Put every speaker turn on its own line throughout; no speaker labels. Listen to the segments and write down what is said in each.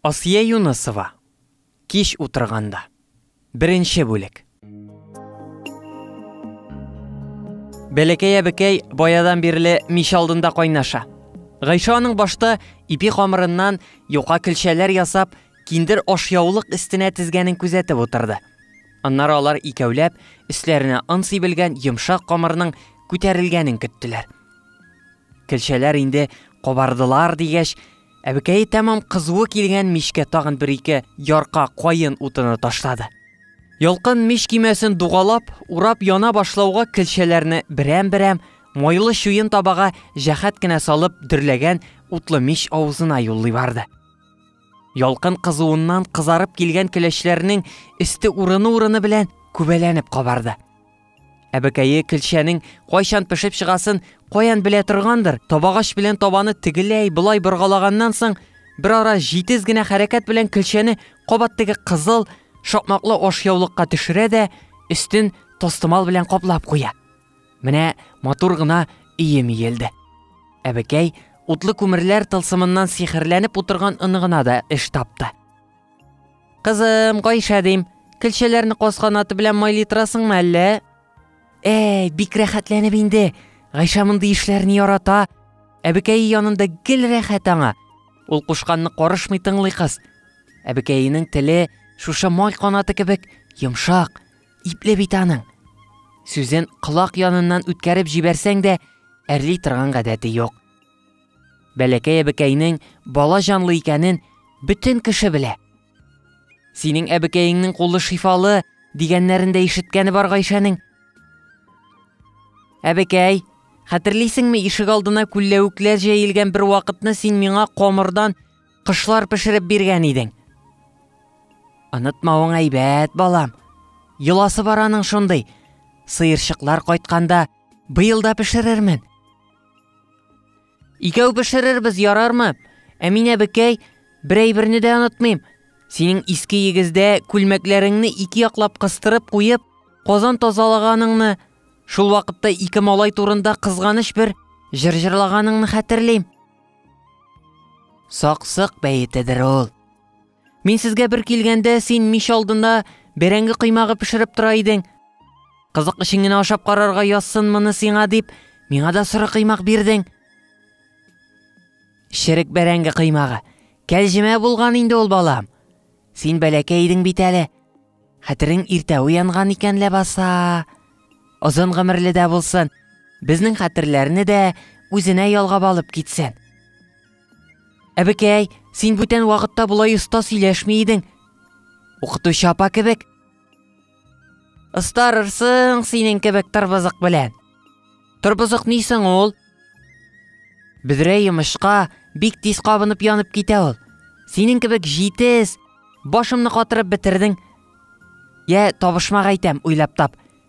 Асия Юнысова, Кич утырганда. Беренче бүлек. Бәләкәй әбекәй баядан бирле мич алдында кайнаша. Гайша аның башта ипи камырыннан юка көлчәләр ясап, киндер ашъяулык өстенә тезгәнен күзәтеп утырды. Аннары алар икәүләп өсләренә он сибелгән йомшак камырның күтәрелгәнен көттеләр. Көлчәләр инде кабардылар дигәч, Әбекәе тәмам кызуы килгән мичкә тагын бер-ике ярка каен утыны ташлады. Ялкын мич кимәсен дугалап, урап яна башлауга көлчәләрне берәм-берәм майлы чуен табага җәхәт кенә салып дөрләгән утлы мич авызына юллый барды. Ялкын кызуыннан кызарып килгән көләчләрнең өсте урыны-урыны белән күбәләнеп кабарды. Әбекәе көлчәнең кайчан пешеп чыгасын каян белә торгандыр, табагач белән табаны тегеләй болай боргалаганнан соң, бер ара җитез генә хәрәкәт белән көлчәне кабат теге кызыл, шакмаклы ашъяулыкка төшерә дә, өстен тастымал белән каплап куя. Менә матур гына өем иелде. Әбекәй утлы күмерләр тылсымыннан сихерләнеп утырган оныгына да эш тапты. Кызым, Гайшә дим, көлчәләрне каскан аты белән майлый торасыңмы әллә? Әй, бик рәхәтләнеп инде. Гайшә мондый эшләрне ярата. Әбекәе янында гел рәхәт аңа. Ул кушканны карышмый тыңлый кыз. Әбекәенең теле шушы май канаты кебек йомшак, ипле бит аның. Сүзен колак яныннан үткәреп җибәрсәң дә, әрли торган гадәте юк. Бәләкәй әбекәйнең бала җанлы икәнен бөтен кеше белә. Синең әбекәеңнең кулы шифалы, дигәннәрен дә ишеткәне бар Гайшәнең. Әбекәй, хәтерлисеңме, ишек алдына күлләвекләр җәелгән бер вакытны син миңа камырдан кышлар пешереп биргән идең. Онытмавың әйбәт, балам. Йоласы бар аның шундый. Сыерчыклар кайтканда, быел да пешерермен. Икәү пешерербез, ярармы? Әминә бекәй, бер әйберне дә онытмыйм. Синең иске егездә күлмәкләреңне ике яклап кыстырып куеп, казан тазалаганыңны, шул вакытта ике малай турында кызганыч бер җыр җырлаганыңны хәтерлим. Саксык бәетедер ул. Мин сезгә бер килгәндә, син мич алдында бәрәңге кыймагы пешереп тора идең. Кызык өчен генә ашап карарга язсын моны сиңа дип, миңа да соры кыймак бирдең. Шерек бәрәңге кыймагы. Кәлҗемә булган инде ул балам. Син бәләкәй идең бит әле. Хәтерең иртә уянган икән ләбаса. Озын гомерле дә булсын. Безнең хәтерләрне дә үзенә ялгап алып китсен. Әбекәй, син бүтән вакытта болай оста сөйләшми идең. Укытучы апа кебек. Остарырсың синең кебек тырбызык белән. Тырбызык ни соң ул? Бөдрә йомышка бик тиз кабынып янып китә ул. Синең кебек җитез, башымны катырып бетердең. Я, табышмак әйтәм, уйлап тап.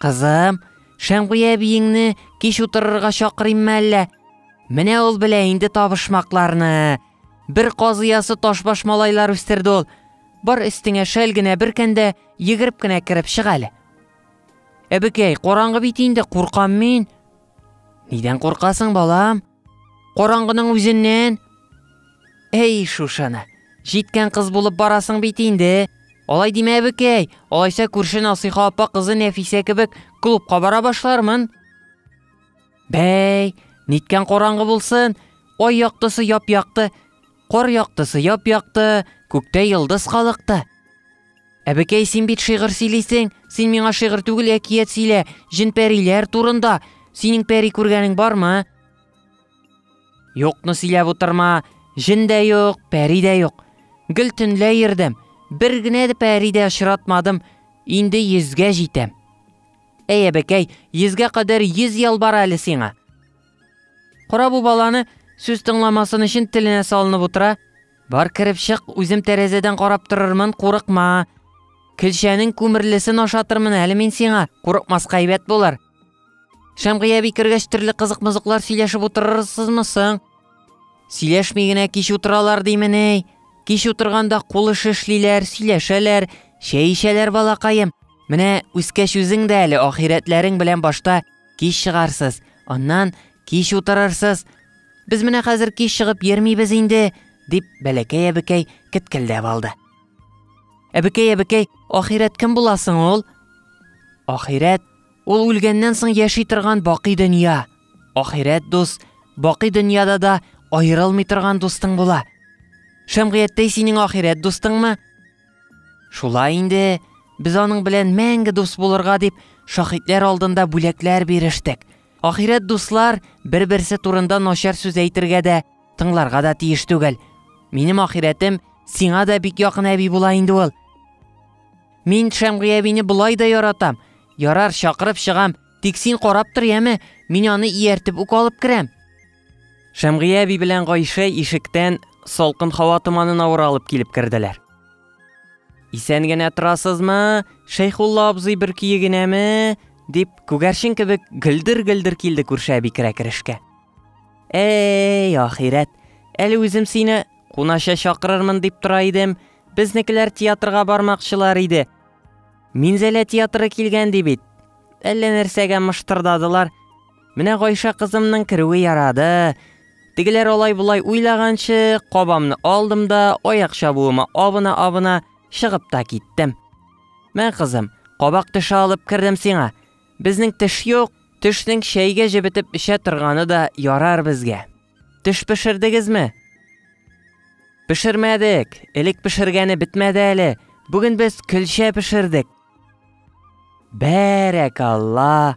Кызым, Шәмгуя әбиеңне кич утырырга чакырыйммы әллә? Менә ул белә инде табышмакларны. Бер казыясы ташбаш малайлар үстерде ул. Бар өстеңә шәл генә беркәндә егереп кенә кереп чык әле. Әбекәй, караңгы бит инде, куркам мин. Нидән куркасың, балам? Караңгының үзеннән? Әй, шушаны. Җиткән кыз булып барасың бит инде. Алай димә, әбекәй. Алайса күрше Насыйха апа кызы Нәфисә кебек клубка бара башлармын. Бәй, ниткән караңгы булсын, ай яктысы яп-якты, Кар яктысы яп-якты, күктә йолдыз калыкты. Әбекәй, син бит шигырь сөйлисең, син миңа шигырь түгел әкият сөйлә, җен-пәриләр турында. Синең пәри күргәнең бармы? Юкны сөйләп утырма, җен дә юк, пәри дә юк. Гел төнлә йөрдем, бер генә дә пәри дә очратмадым, инде йөзгә җитәм. Әй, әбекәй, йөзгә кадәр йөз ел бар әле сиңа. Кара бу баланы, сүз тыңламасын өчен теленә салынып утыра. Бар кереп чык, үзем тәрәзәдән карап торырмын, курыкма. Көлчәнең күмерлесен ашатырмын әле мин сиңа, курыкмаска әйбәт булыр. Шәмгыя би кергәч төрле кызык-мызыклар сөйләшеп утырырсызмы соң? Сөйләшми генә кич утыралар димени. Кич утырганда кулы шешлиләр, сөйләшәләр, чәй эчәләр балакаем. Менә үскәч үзең дә әле ахирәтләрең белән башта кич чыгарсыз, аннан кич утырырсыз. Без менә хәзер кич чыгып йөрмибез инде, дип бәләкәй әбекәй кеткелдәп алды. Әбекәй, әбекәй, ахирәт кем буласың ул? Ахирәт ул үлгәннән соң яши торган бакый дөнья. Ахирәт дус, бакый дөньяда да аерылмый торган дустың була. Шәмгыятьтәй синең ахирәт дустыңмы? Шулай инде, без аның белән мәңге дус булырга дип, шахитләр алдында бүләкләр бирештек. Ахирәт дуслар бер-берсе турында начар сүз әйтергә дә, тыңларга да тиеш түгел. Минем ахирәтем сиңа да бик якын әби була инде ул. Мин Шәмгый әбине болай да яратам. Ярар, чакырып чыгам, тик син карап тор, яме, мин аны ияртеп үк алып керәм. Шәмгия әби белән Гайшә ишектән салкын һава томанын авыра алып килеп керделәр. Исән генә торасызмы? Шәйхулла абзый бер көе генәме? дип, күгәрчен кебек гөлдер-гөлдер килде күрше әби керә керешкә. Әй, ахирәт, әле үзем сине кунаша чакырырмын дип тора идем. Безнекеләр театрга бармакчылар иде. Минзәлә театры килгән ди бит. Әллә нәрсәгә мыштырдадылар. Менә Гайша кызымның керүе ярады. Тегеләр алай-болай уйлаганчы, кабамны алдым да, аяк чабуыма абына-абына чыгып та киттем. Мә, кызым, кабак теше алып кердем сиңа. Безнең теш юк, тешнең чәйгә җебетеп эчә торганы да ярар безгә. Теш пешердегезме? Пешермәдек, элек пешергәне бетмәде әле. Бүген без көлчә пешердек. Бәрәкалла!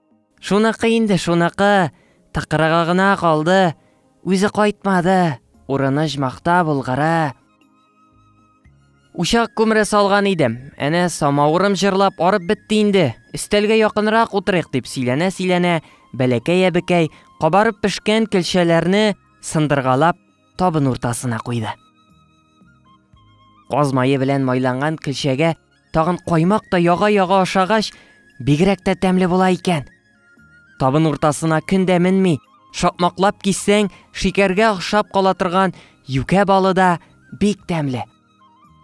Шуныкы инде, шуныкы, тыкрыгы гына калды, үзе кайтмады, урыны оҗмахта, Болгары. Учак күмере салган идем, әнә самавырым җырлап арып бетте инде, өстәлгә якынрак утырыйк дип сөйләнә-сөйләнә, бәләкәй-әбекәй кабарып пешкән көлчәләрне сындыргалап табын уртасына куйды. Каз мае белән майланган көлчәгә Тагын каймак та яга-яга ашагач, бигрәк тә тәмле була икән. Табын уртасына көн дә менми, шапмаклап киссәң, шикәргә охшап кала торган юкә балы да бик тәмле.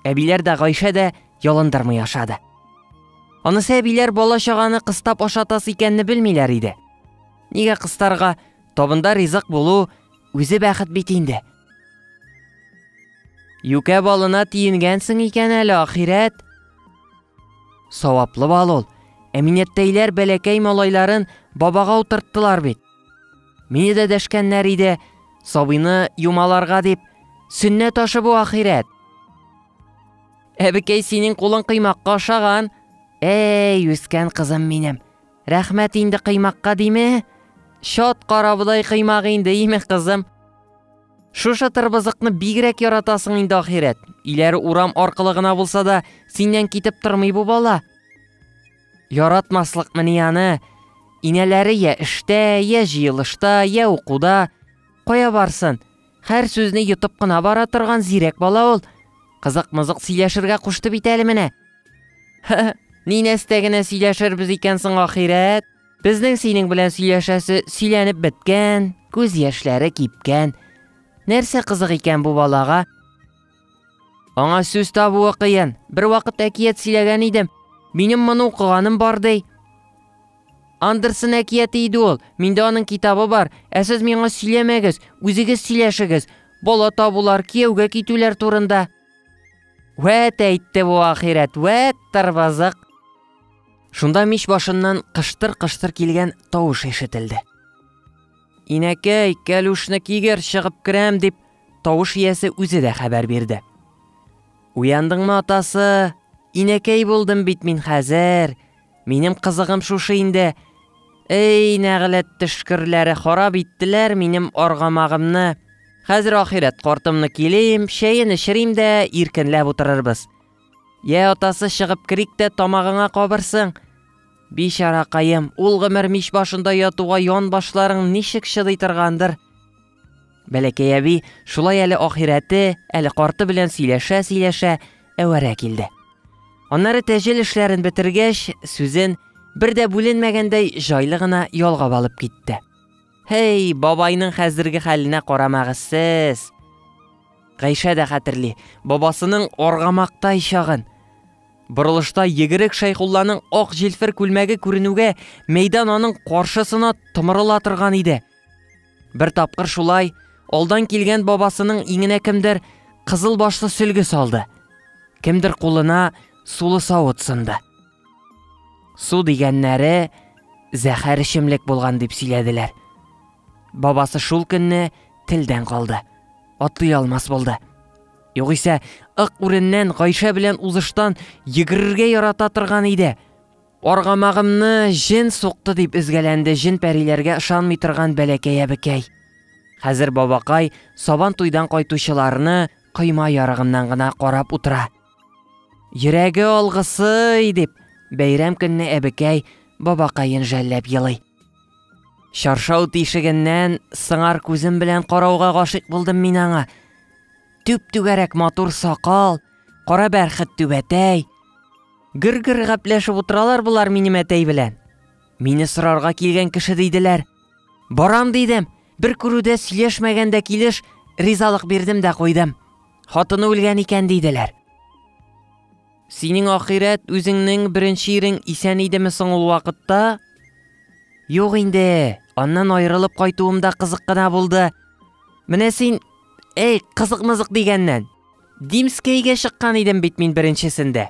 Әбиләр дә Гайшә дә ялындырмый ашады. Анысы әбиләр бала чаганы кыстап ашатас икәнне белмиләр иде. Нигә кыстарга? Табында ризык булу үзе бәхет бит инде. Юкә балына тиенгәнсең икән әле, ахирәт. Саваплы бал ул. Әминәттәйләр бәләкәй малайларын бабага утырттылар бит. Мине дә дәшкәннәр иде, сабыйны юмаларга дип. Сөннәт ашы бу ахирәт. Әбекәй синең кулың кыймакка ашаган. Әй, үскән кызым минем. Рәхмәт инде кыймакка диме? Чат карабыдай кыймак инде, име кызым? Шушы тырбызыкны бигрәк яратасың инде ахирәт. Иләр урам аркылы гына булса да, синнән китеп тормый бу бала. Яратмаслык мени аны. Инәләре я эштә, я җыелышта, я укуда. Кая барсын? Хәр сүзне йотып кына бара торган зирәк бала ул. Кызык-мызык сөйләшергә кушты бит әле менә. Ни нәрсә генә сөйләшербез икән соң ахирәт? Безнең синең белән сөйләшәсе сөйләнеп беткән, күз яшьләре кипкән. Нәрсә кызык икән бу балага? Аңа сүз табуы кыен. Бер вакыт әкият сөйләгән идем. Минем моны укыганым бар ди. Андерсон әкияте иде ул. Миндә аның китабы бар. Ә сез миңа сөйләмәгез, үзегез сөйләшегез. Бала табулар, кияүгә китүләр турында. Вәт әйтте бу ахирәт, вәт тарбазык. Шунда мич башыннан кыштыр-кыштыр килгән тавыш ишетелде. Инәкәй, кәлүшне кигер, чыгып керәм, дип Тавыш иясе үзе дә хәбәр бирде. Уяндыңмы, атасы? Инәкәй булдым бит мин хәзер. Минем кызыгым шушы инде. Эй, нәгъләт төшкерләре харап иттеләр минем аргамагымны. Хәзер ахирәт картымны килим, чәен эчерим дә иркенләп утырырбыз. Йә, атасы, чыгып керик тә тамагыңа кабырсың. Бичаракаем, ул гомер мич башында ятуга ян башларың ничек чыдый торгандыр? Бәләкәй әби шулай әле ахирәте, әле карты белән сөйләшә-сөйләшә әвәрә килде. Аннары тәҗел эшләрен бетергәч, сүзен бер дә бүленмәгәндәй җайлы гына ялгап алып китте. Һей, бабайның хәзерге хәленә карамагыз сез. Гайшә дә хәтерли, бабасының аргамактай чагын. Борылышта егерек Шәйхулланың ак җилфер күлмәге күренүгә, мәйдан аның каршысына томырыла торган иде. Бер тапкыр шулай алдан килгән бабасының иңенә кемдер кызыл башлы сөлге салды. Кемдер кулына сулы савыт сынды. Су дигәннәре зәхәр эчемлек булган дип сөйләделәр. Бабасы шул көнне телдән калды. Атлый алмас булды. Югыйсә, ык үреннән Гайшә белән узыштан йөгерергә ярата торган иде. Аргамагымны җен сукты, дип өзгәләнде җен-пәриләргә ышанмый торган бәләкәй әбекәй. Хәзер бабакай Сабан туйдан кайтучыларны койма ярыгыннан гына карап утыра. Йөрәге алгысый! дип, бәйрәм көнне әбекәй бабакаен жәлләп елый. Чаршау тишегеннән сыңар күзем белән карауга гашыйк булдым мин аңа. Түп-түгәрәк матур сакал, кара бәрхет түбәтәй, Гөр-гөр гәпләшеп утыралар болар минем әтәй белән. Мине сорарга килгән кеше диделәр. Барам дидем. Бер күрүдә сөйләшмәгәндә килеш ризалык бирдем дә куйдым. Хатыны үлгән икән диделәр. Синең ахирәт үзеңнең беренче ирең исән идеме соң ул вакытта? Юк инде, аннан аерылып кайтуым да кызык кына булды. Менә син, эй, кызык-мызык дигәннән, Димскәйгә чыккан идем бит мин беренчесендә.